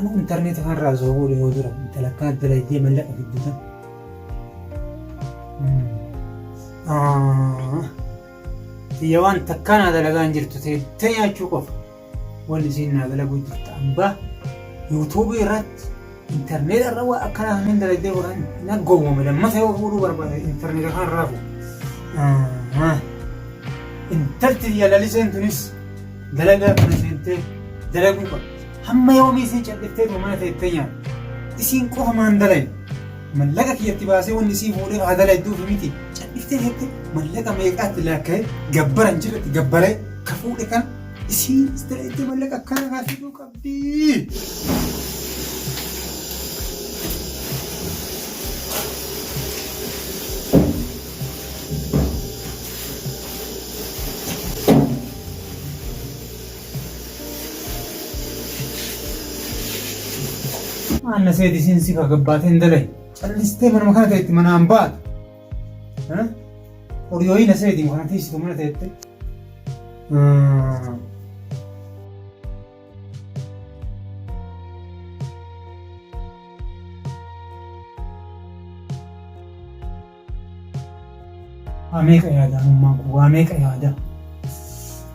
Anuu intarneetii kanarraa osoo fuudhu yoo tura intalakkaa dalaydee mallaqa fidduta. Tiyya waan takkaa naa dalagaa hin jirtu ta'e nyaachuu qofa. Wal isiin naa dalaguu jirta amba yuutuubii irratti intarneeta irra waa akkanaa hin dalagdee godhan na gowwame lammata yoo fuudhuu barbaade intarneeta kan raafu. Intalti biyya laliseen tunis dalagaa kana seentee dalaguu qabdi. Hamma yoomii isiin calliftee tuma mana teettee nyaata. Isiin qofa maan dalagi. Mallaqa kiyyatti baasee wanni isii fuudhee haa dalagduuf miti. Calliftee teettee mallaqa meeqaatti laakka'ee gabbara hin jirretti gabbaree ka fuudhe kana Isiinis ta'etti mallaqa akkana kaa fiduu qabdi. Maanna seeti isiin si kagabbaateen dalay. Callistee manuma kana ta'etti manaan baatu. Odiyooyii na seeti kana tiisitu mana teette. Waa meeqa yaada amummaan kun waa meeqa yaada.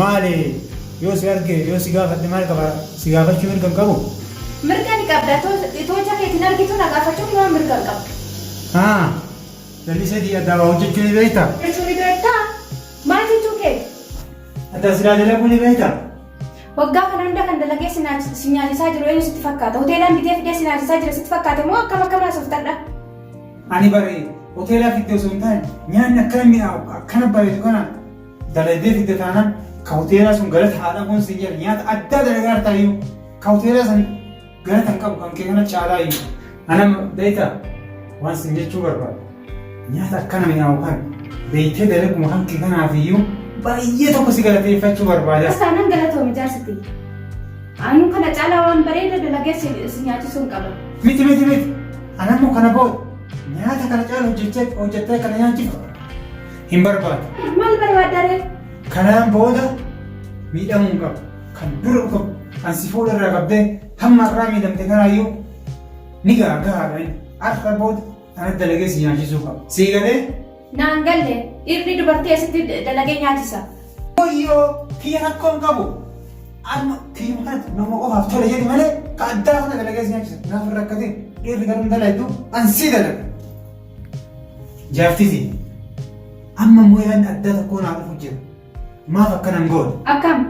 Maali yoo si arge yoo si gaafadhe maal qaba si gaafachuu mirga hin qabu? Mirga ni qabda itoo ija keetiin argituu na gaafachuuf maaf mirga hin qabdu? Haa Lalisee kiyya addaa waa hojjachuu ni beektaa? Hojjachuu ni beektaa? Maal jechuu keeti? Addaa silaa dalaguu ni beektaa? Waggaa kana hunda kan dalagee si nyaachisaa jiru eenyu sitti fakkaata? Hoteelaan bitee fidee si nyaachisaa jira sitti fakkaate moo akkam akkam haasofta adhaa? Ani bare hoteelaa fidde osoo hin taane nyaanni akkana mi'aawu akkana bareedu kana dalaydee fidde taanaan ka hoteelaa sun galata haa dhabuun sin jedha nyaata addaa dalagaa hartaa iyyuu ka hoteelaa san galata hin qabu kan kee kana caalaa iyyuu. Ana beekta waan sin jechuu barbaadu nyaata akkana mi'aawu kana beektee dalaguma kan kee kanaaf iyyuu baay'ee tokko si galateeffachuu barbaada. Kasaanan galatoomi jaarsiti. Anuu kana caalaa waan bareeda dalagee si nyaachisuu hin qabu. Miti miti miti Anammoo kana booda nyaata kana caalu hojjechee hojjettee kana nyaachiftu hin barbaadu. Maal barbaadda ree? Kanaan booda miidhamuu hin qabu. Kan dura dhufa kan si fuula irraa qabdee hamma irraa miidhamte kanaayyuu ni gaagaadha. Har'a booda ana dalagee si nyaachisuu qaba. Sii galee Naan galle dhirri dubartii asitti dalagee nyaachisa. Wayyoo kiyya rakkoon qabu amma kiyya kanatti nama qofaaf tole jedhi malee ka addaa sana dalagee si nyaachisa. Naaf hin rakkatin dhirri garuu dalaydu an sii dalaga. Jaartisi amma immoo yaadni addaa tokkoo naaf dhufu jira. Maaf akkana hin goone? Akkam?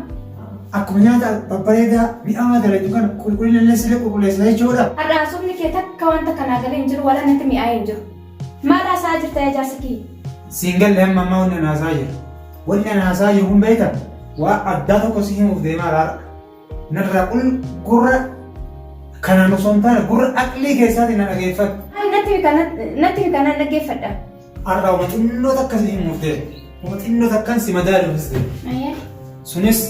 Akkuma nyaata babbareedaa mi'aawaa dalagdu kana qulqullina illee sirrii qulqulleessina jechuudha. Har'a haasofni kee takka wanta kanaa galee hin jiru wala natti mi'aa'ee hin jiru. Maal haasa'aa jirta yaa jaarsa kiyya? Siin galle amma ammaa wanni anaasaa jiru. Wanni anaasaa jiru kun beekta waa addaa tokko si himuuf deemaa raara. Narraa kun gurra kanaan osoo hin taane gurra aqlii keessaatiin na dhageeffadhu. Natti himi kanaan natti himi kanaan dhaggeeffadha. Har'a uma xinnoo takka si hin murtee. Uma xinnoo takkan si madaaluufis ta'e. Ayyee. Sunis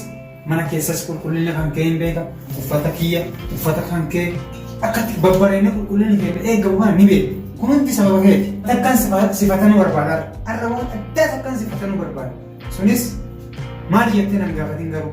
mana keessas qulqullina kan kee hin beeka. Uffata kiyya, uffata kan kee akkatti babbareedina qulqullina keenya eegamu kana ni beeka. Kun hundi sababa keeti. Takkan sifa- sifatanuu barbaada. Har'a waan addaa takkan sifatanuu barbaada. Sunis maal jettee nan gaafatin garuu.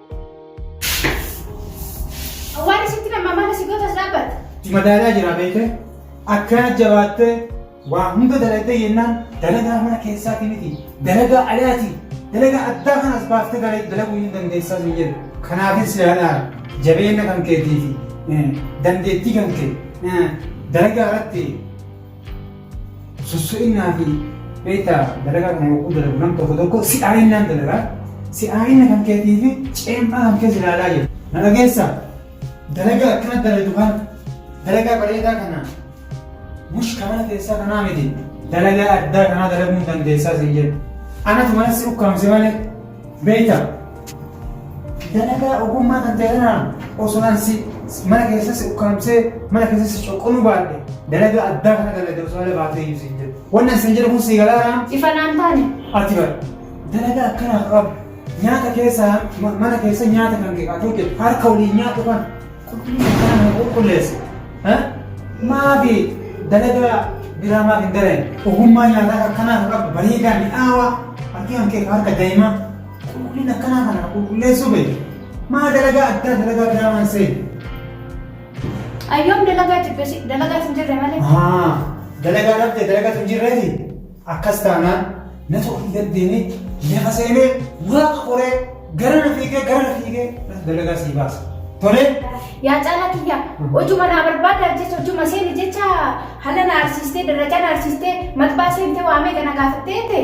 Awwaarri sitti nama mana si gootas dhaabbata. Madaalaa jira beekee akkana jabaattee waa hunda dalagdee jennaan dalagaa mana keessaati miti dalagaa alaati dalagaa addaa kan as baaftee dala- dalaguu hin dandeessaa sun jedhu. Kanaafis yaadhaa jabeenya kan keetii fi eh, dandeettii kan kee eh, dalagaa irratti Sosso'innaa fi beektaa dalagaa kana yogguu dalagu nam tokko tokko si'aa'innaan dalagaa si'aa'inna kan keetii fi ceem'aa kan kees ilaalaa jedhu. Na dhageessaa? Dalagaa akkana daladu kana dalagaa bareedaa kana mush ka mana keessaa kanaa miti dalagaa addaa kanaa dalaguu hin dandeessaa siin jedhu. Anatu mana si ukkaamse malee beektaa? Dalagaa ogummaa kan ta'e kanaan osoo an si mana keessa si ukkaamsee mana keessa si coqqonuu baadhe dalagaa addaa kana dalagde osoo ala baatee iyyuu siin jedhu. Wanni an siin jedhu kun sii galaanaa? Ifa naan taane. Ati bara dalagaa akkanaa qabu nyaata keessa mana keessa nyaata kan kee qabu hojjetu harka waliin nyaatu kana qulqullina akkanaa kana qulqulleessi. Maafi dalagaa biraa maaf hin dalayne? Ogummaa nyaataa akkanaa kan qabdu bareedaa mi'aawaa harki kan kee harka daa'imaa. Qulqulliin akkanaa kana qulqulleessuu beeku. Maa dalagaa addaa dalagaa biraa waan seenu. Ayyoom dalagaa jibbesi dalagaa sin jirre malee. Haa dalagaa dhabde dalagaa hin jirreeti. Akkas taanaan natu ofii gaddeemee lafa seenee waaqa qoree gara na fiigee gara na fiigee dalagaa sii baasa. Tolee. Yaa caalaa kiyya hojuma naa barbaadaaf jecha hojuma seeni jecha hana na arsiistee darajaa na arsiistee matbaa seentee waamee gana gaafattee ta'e.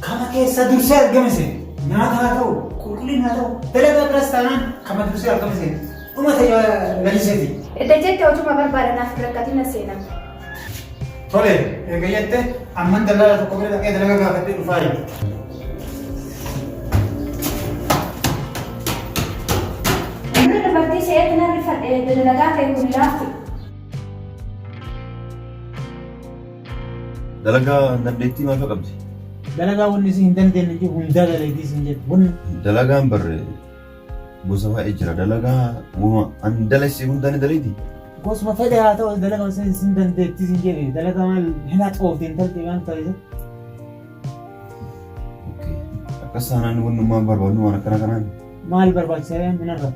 Kama keessaa dursee argame seena. Nyaata haa ta'u, qulqullina haa ta'u, dalagaa biraas taanaan kama dursee argame seena. Dhuma ta'e laliseeti. Edda jette hojuma barbaada naaf hin rakkatina seena. Tole, eega jette amman dalagaa tokko bira dhaqee dalagaa gaafadhee dhufaa jedhe. Inni dubartii se'eetti nan rifadhe edda dalagaa kee kun laafti. Dalagaa dandeettii maal fa'a qabdi? Dalagaa wanni isin hin dandeenye jiru hundaa dalaydii isin jedhu. Wanni Dalagaan barre gosa baay'ee jira. Dalagaa wama an dalagsi hundaa ni dalaydi. gosuma fedhe haa ta'u dalagaa isin isin dandeettii isin jedhe. Dalagaa maal hin haxoofte hin talte waan ta'e. Okay. Akkas taanaan wannummaan barbaadnu waan akkana kanaan Maal barbaachisa yaa minarra?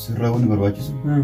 sirraa wanni barbaachisu Hmm.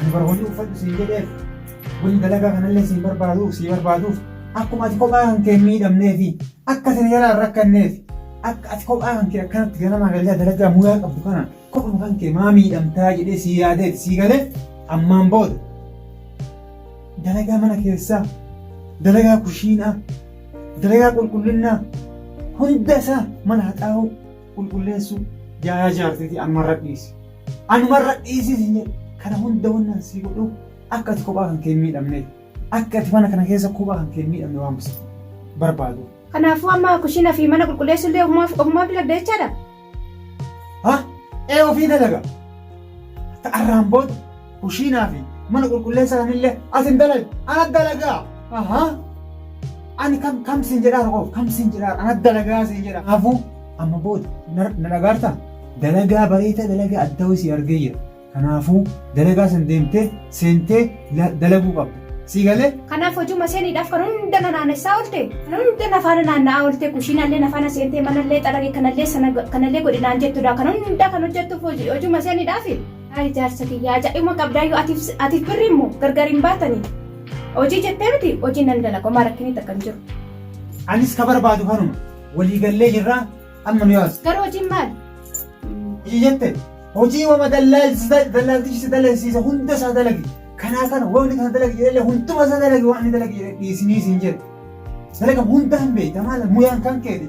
Ani bara hojii uffadhu siin jedheef waliin dalagaa kanallee siin barbaaduuf sii barbaaduuf akkuma ati kophaa kan kee miidhamnee fi akka isin jalaa hin rakkanneef akka ati kophaa kan kee akkanatti ganamaa galgaa dalagaa mudaa qabdu kana kophuma kan kee maa miidhamtaa jedhee sii yaadeef sii galee ammaan booda dalagaa mana keessaa dalagaa kushiinaa dalagaa qulqullinnaa hunda isaa mana haxaa'uu qulqulleessuu jaayaa jaartiitii anumarra dhiisi. Anumarra dhiisii siin jedhe kana hunda wannan sii godhuuf akka ati kophaa kan kee hin miidhamneef akka ati mana kana keessa kophaa kan kee hin miidhamne waan bisitu barbaadu. Kanaafuu amma kushiina fi mana qulqulleessuu illee ofumaaf ofumaaf dalagda jechaadha. Ha? Ee ofii dalaga. Akka arraan booda Kushiinaa fi mana qulqulleessaa kanillee asin dalagi ana dalagaa ahaa ani kam kam siin jedhaa rakoof kam siin jedhaa ana dalagaa siin jedha kanaafuu amma booda na dhagaarta dalagaa bareedaa dalagaa addaa wayii sii argee jira kanaafuu dalagaa san deemtee seentee dalaguu qabda sii galee. Kanaaf hojuma seeniidhaaf kan hunda na naannessaa oolte kan hunda na faana naanna'aa oolte kushiinallee na faana seentee manallee xaragi kanallee sana kanallee godhi naan jettudha kan hunda kan hojjettuuf hojuma seeniidhaafi. Haay jaarsa kiyya ajaa'ibuma qabdaayyuu atiif atiif birri immoo gargar hin baatanii. Hojii jettee miti hojii nan dalaga homaa rakkinii takka hin jiru. Anis ka barbaadu kanuma. Walii gallee jirraa amma nu yaas. Garuu hojiin maali? Hojii jette hojii wama dallaalti dallaaltichi si dalagsiise hunda isaa dalagi. Kanaa kana wamni kana dalagi jedhee hunduma isaa dalagi waan inni dalagi jedhee dhiisinii siin jedhe. Dalaga hunda hin beekta maal muyaan kan keeti.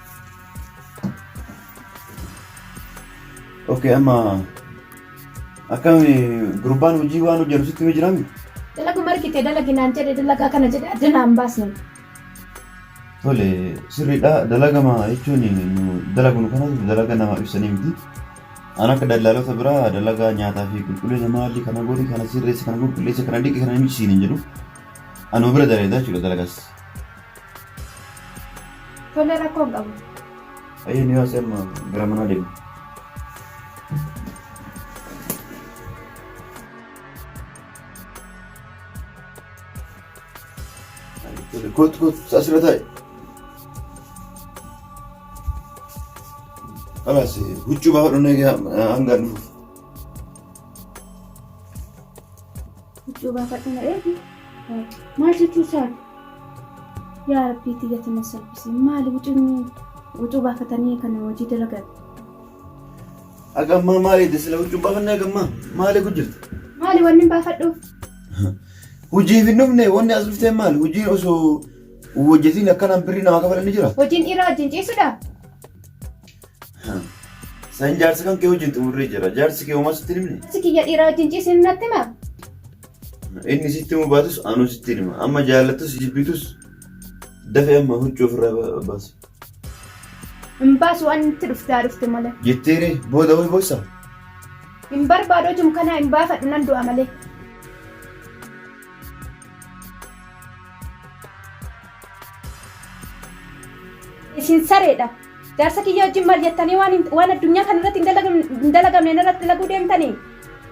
ok amma akkam gurbaan hojii waan hojjetu sitti himee jiraami Dalagu margite dalagi naan jedhe dalagaa kana jedhe adda naan baasne. tole sirriidha dalagama jechuun nu dalagnu kanas dalaga namaaf ibsanii miti an akka daldaalota biraa dalagaa nyaataa fi qulqullina maalli kana godhi kana sirreessa kana qulqulleessa kana dhiqi kana himisiin hin jedhu anuma bira dalagaa jechuudha dalagaas Tole rakkoo hin qabu. Ayyee ni haasee amma gara manaa deemu. Kootu kootu asirra taa'e. Alaas huccuu baafadhu hanga dhufu. Huccuu baafadhu na eegi. Maal jechuu isaati? Yaa Rabbii tiyyati na salphisi. Maali hucunni hucuu baafatanii kana hojii dalagan. Agammaa maal eedde sila huccuun baafannee agammaa maal eegu jirta? Maali wanni hin baafadhuuf? Hojiif hin dhufne wanni as dhuftee maal hojiin osoo hojjetiin akkanaan birrii namaa kafalan ni jira. Hojiin dhiiraa wajjin ciisudha. San jaarsi kan kee wajjin xumurree jira. Jaarsi kee homaa sitti hin himne. Si kiyya dhiiraa wajjin ciisin natti hima. Inni sitti himuu baatus anuu sitti hima. Amma jaallattus jibbitus dafee amma huccuu ofirraa ba- baasi. Hin baasu waan itti dhufte haa dhufte malee. Jetteeree booda wal boossa. Hin barbaadu hojum kanaa hin baafadhu nan du'a malee. Isin sareedha. Jaarsa kiyya wajjin maal jettanii waan hin- waan addunyaa kana irratti hin dalagam- hin dalagamne narratti dalaguu deemtanii?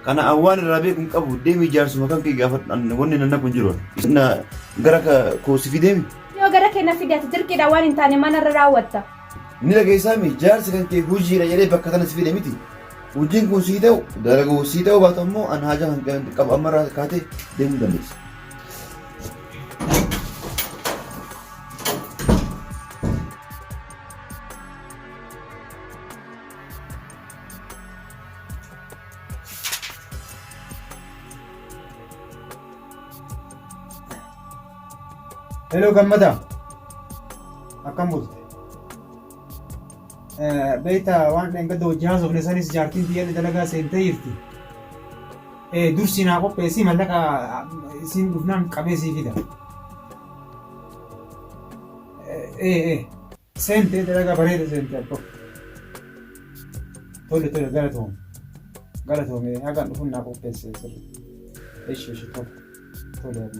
Kana an waan irraa beeku hin qabu. Deemi jaarsuma kan kee gaafadhu. An wanni nan naqu hin jiru. Na gara ka- koo si fideemi. Yoo gara kee na fide ati dirqiidhaan waan hin taane mana irra raawwatta. Ni dhageessaami jaarsi kan kee hojiidha jedhee bakka kana si fide miti. Hojiin kun sii ta'u dalaguu sii ta'u baatu ammoo an haajaa kan kee qabu amma irraa kaatee deemuu dandeessa. Hello gammada akkam bulte beekta waan dhangada hojii haasofne sanis jaartiin biyya dalagaa seentee jirti dursi naa qopheessi mallaqa isiin dhufnaan qabee sii fida. Ee ee. Seentee dalagaa bareeda seentee abbo. Tole tole galatoom. Galatoomee hagaan dhufuun naa qopheessee sirri. Eshi eshi tole. Tole abbo.